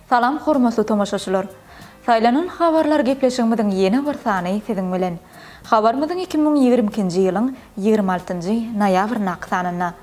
Salam hormatly tomaşaçylar! Saýlanan habarlar gepleşigimiziň ýene bir sany siziň bilen. Habarymyzyň iki müň ýigrimi ikinji ýylyň ýigrimi altynjy noýabryndaky sanynda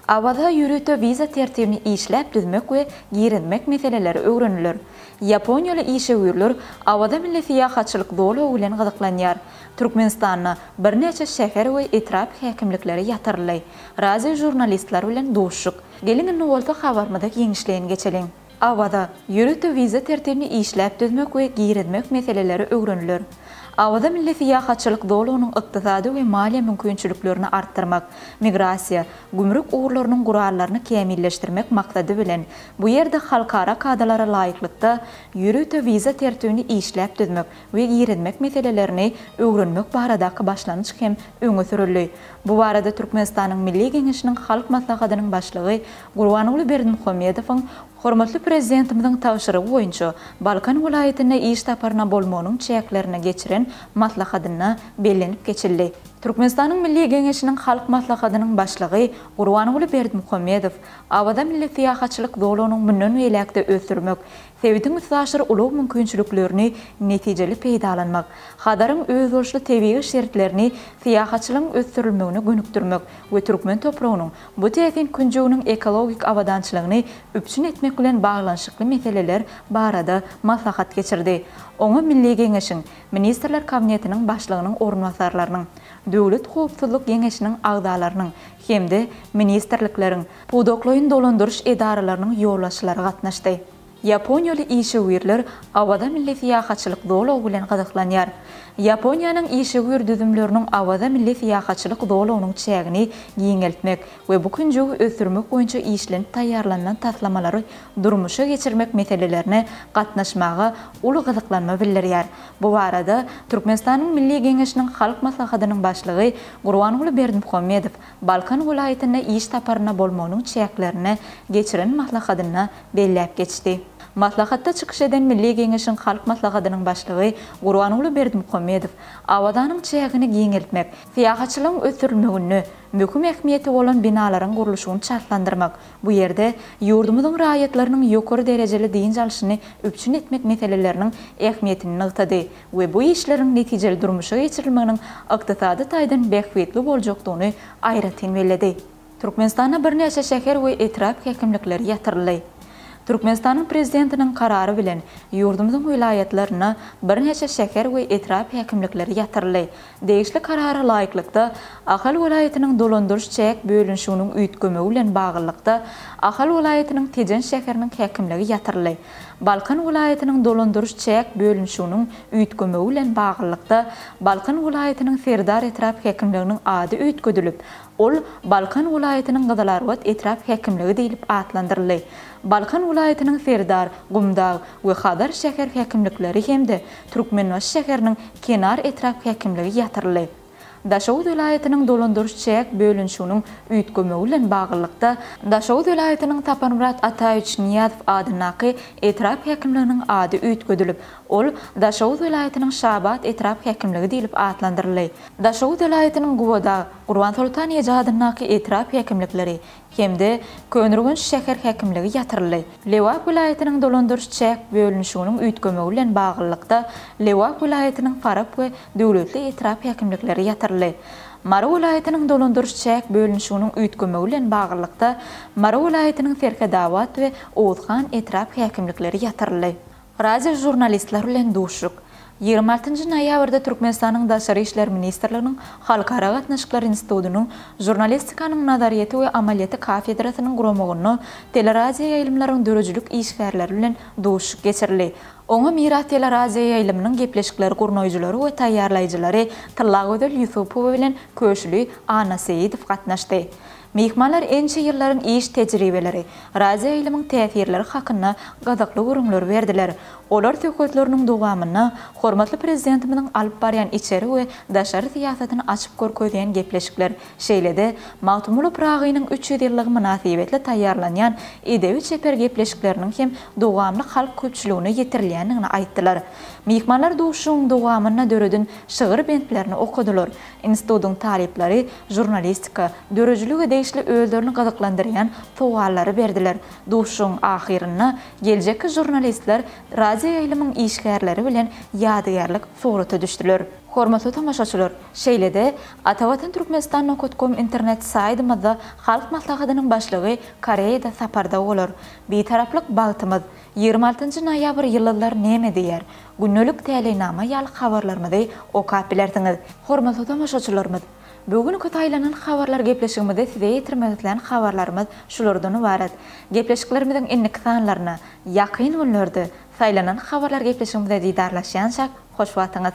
Awaza ýörite wiza tertibini işläp düzmek we girizmek meseleleri öwreniler. Ýaponiýaly işewürler Awaza milli syýahatçylyk zolagy bilen gyzyklanýar. Türkmenistanda birnäçe şäher we etrap häkimlikleri ýatyryldy. Radio žurnalistler bilen duşuşyk. Geliň indi bolsa habarymyza giňişleýin geçeliň. Awaza, ýörite wiza tertibini işläp düzmek we girizmek meseleleri öwreniler. Awaza milli syýahatçylyk zolagynyň ykdysady we maliýe mümkinçiliklerini artdyrmak, migrasiýa, gümrük ugurlarynyň gurallaryny kämilleşdirmek maksady bilen, bu ýerde halkara kadalara laýyklykda ýörite wiza tertibini işläp düzmek, we girizmek meselelerini öwrenmek baradaky başlangyç hem öňe sürüldi. Bu barada Türkmenistanyň Milli Geňeşiniň Halk Maslahatynyň Başlygy Gurbanguly Berdimuhamedowyň hormatly Prezidentimiziň tabşyrygy boýunça Balkan welaýatyna iş saparyna bolmagynyň çäklerinde geçiren maslahatynda bellenip geçildi. Türkmenistanyň Milli Geňeşiniň Halk Maslahatynyň Başlygy Gurbanguly Berdimuhamedow Awaza milli syýahatçylyk zolagynyň mundan beýläk-de ösdürmek, Sebitiň üstaşyr ulag mümkinçiliklerini netijeli peýdalanmak, Hazaryň özboluşly tebigy şertlerini syýahatçylygyň ösdürilmegine gönükdirmek we türkmen topragynyň bu täsin künjeginiň ekologik abadançylygyny üpjün etmek bilen baglanyşykly meseleler barada maslahat geçirdi. Oňa Milli Geňeşiň, Ministrler Kabinetiniň Başlygynyň orunbasarlarynyň, Döwlet howpsuzlyk Geňeşiniň agzalarynyň hem-de ministrlikleriň, pudaklaýyn dolandyryş edaralarynyň ýolbaşçylary gatnaşdy. Ýaponiýaly işewürler Awaza milli syýahatçylyk zolagy bilen gyzyklanýar. Ýaponiýanyň işewür düzümleriniň Awaza milli syýahatçylyk zolagynyň çägini giňeltmek we bu künjegi ösdürmek boýunça işlenip taýýarlanylan taslamalary durmuşa geçirmek meselelerine gatnaşmaga uly gyzyklanma bildirýär. Bu barada Türkmenistanyň Milli Geňeşiniň Halk Maslahatynyň Başlygy Gurbanguly Berdimuhamedow Balkan welaýatynda iş saparynda bolmagynyň çäklerinde geçiren maslahatynda belläp geçdi. Maslahatda çykyş eden Milli Geňeşiň Halk Maslahatynyň Başlygy Gurbanguly Berdimuhamedow Awazanyň çägini giňeltmek, syýahatçylygyň ösdürilmeginde möhüm ähmiýeti bolan binalaryň gurluşygyny çaltlandyrmak Bu ýerde ýurdumyzyň raýatlarynyň ýokary derejeli dynç alşyny üpjün etmek meseleleriniň ähmiýetini nygtady we bu işleriň netijeli durmuşa geçirilmeginiň ykdysady taýdan bähbitli boljakdygyny aýratyn belledi. Türkmenistanda birnäçe şäher we etrap häkimlikleri ýatyryldy. Türkmenistanyň Prezidentiniň Karary bilen ýurdumyzyň welaýatlarynda birnäçe şäher we etrap häkimlikleri ýatyryldy, Degişli Karara laýyklykda, Ahal welaýatynyň dolandyryş-çäk bölünişiginiň üýtgemegi bilen baglylykda, Ahal welaýatynyň Tejen şäheriniň häkimligi ýatyryldy. Balkan welaýatynyň dolandyryş-çäk bölünişiginiň üýtgemegi bilen baglylykda, Balkan welaýatynyň Serdar etrap häkimliginiň ady üýtgedilip, ol Balkan welaýatynyň Gyzylarbat etrap häkimligi diýlip atlandyryldy. Balkan welaýatynyň Serdar, Gumdag we Hazar şäher häkimlikleri hem-de Türkmenbaşy şäheriniň Kenar etrap häkimligi ýatyryldy. Daşoguz welaýatynyň dolandyryş-çäk bölünişiginiň üýtgemegi bilen baglylykda, Daşoguz welaýatynyň Saparmyrat Ataýewiç Nyýazow adyndaky etrap häkimliginiň ady üýtgedilip, ol Daşoguz welaýatynyň Şabat etrap häkimligi diýlip atlandyryldy. Daşoguz welaýatynyň Gubadag, Gurbansoltan eje adyndaky etrap häkimlikleri hem-de Köneürgenç şäher häkimligi ýatyryldy. Lebap welaýatynyň dolandyryş-çäk bölünişiginiň üýtgemegi bilen baglylykda Lebap welaýatynyň Farap we Döwletli etrap häkimlikleri ýatyryldy. Mary welaýatynyň dolandyryş-çäk bölünişiginiň üýtgemegi bilen baglylykda Mary welaýatynyň Serhedabat we Oguzhan etrap häkimlikleri ýatyryldy. Radio žurnalistler bilen duşuşyk. Ýigrimi altynjy noýabrda Türkmenistanyň Daşary işler ministrliginiň Halkara gatnaşyklar institutynyň Žurnalistikanyň nazaryýeti we amalyýeti kafedrasynyň guramagynda teleradioýaýlymlaryň döredijilik işgärleri bilen duşuşyk geçirildi. Oňa Miras teleradioýaýlymynyň gepleşikleri gurnaýjylary we taýýarlaýjylary Tyllagözel Ýusupowa bilen Köşüli Annaseýidow gatnaşdy. Myhmanlar ençe ýyllaryň iş tejribeleri, radioýaýlymyň täsirleri hakynda gyzykly gürrüňleri berdiler. Olar söhbetleriniň dowamynda hormatly Prezidentimiziň alyp barýan içeri we daşary syýasatyny açyp görkezýän gepleşikler, şeýle-de Magtymguly Pyragynyň üç ýüz ýyllygy mynasybetli taýýarlanýan edebi-çeper gepleşikleriniň hem dowamly halk köpçüligine ýetirilýändigini aýtdylar. Myhmanlar duşuşygyň dowamynda döreden şygyr bentlerini okadylar. Institutyň talyplary žurnalistika, döredijilige degişli özlerini gyzyklandyrýan sowallary berdiler. Duşuşygyň ahyrynda geljekki žurnalistler radioýaýlymyň işgärleri bilen ýadygärlik surata düşdüler. Hormatly tomaşaçylar, şeýle-de, Atavatanturkmenistan nokat kom internet saýdymyzda Halk Maslahatynyň Başlygy Koreýada saparda bolar. Bitaraplyk bagtymyz. Ýigrimi altynjy noýabr ýyldyzlary näme diýýär? Gündelik täleýnama ýaly habarlarymyzy okap bilersiňiz. Hormatly tomaşaçylarymyz! Bu günki saýlanan habarlar gepleşigimizde size ýetirmek islän habarlarymyz şulardan ybarat. Gepleşiklerimiziň indiki sanlaryna, ýakyn günlerde, saýlanan habarlar gepleşigimizde didarlaşýança hoş wagtyňyz!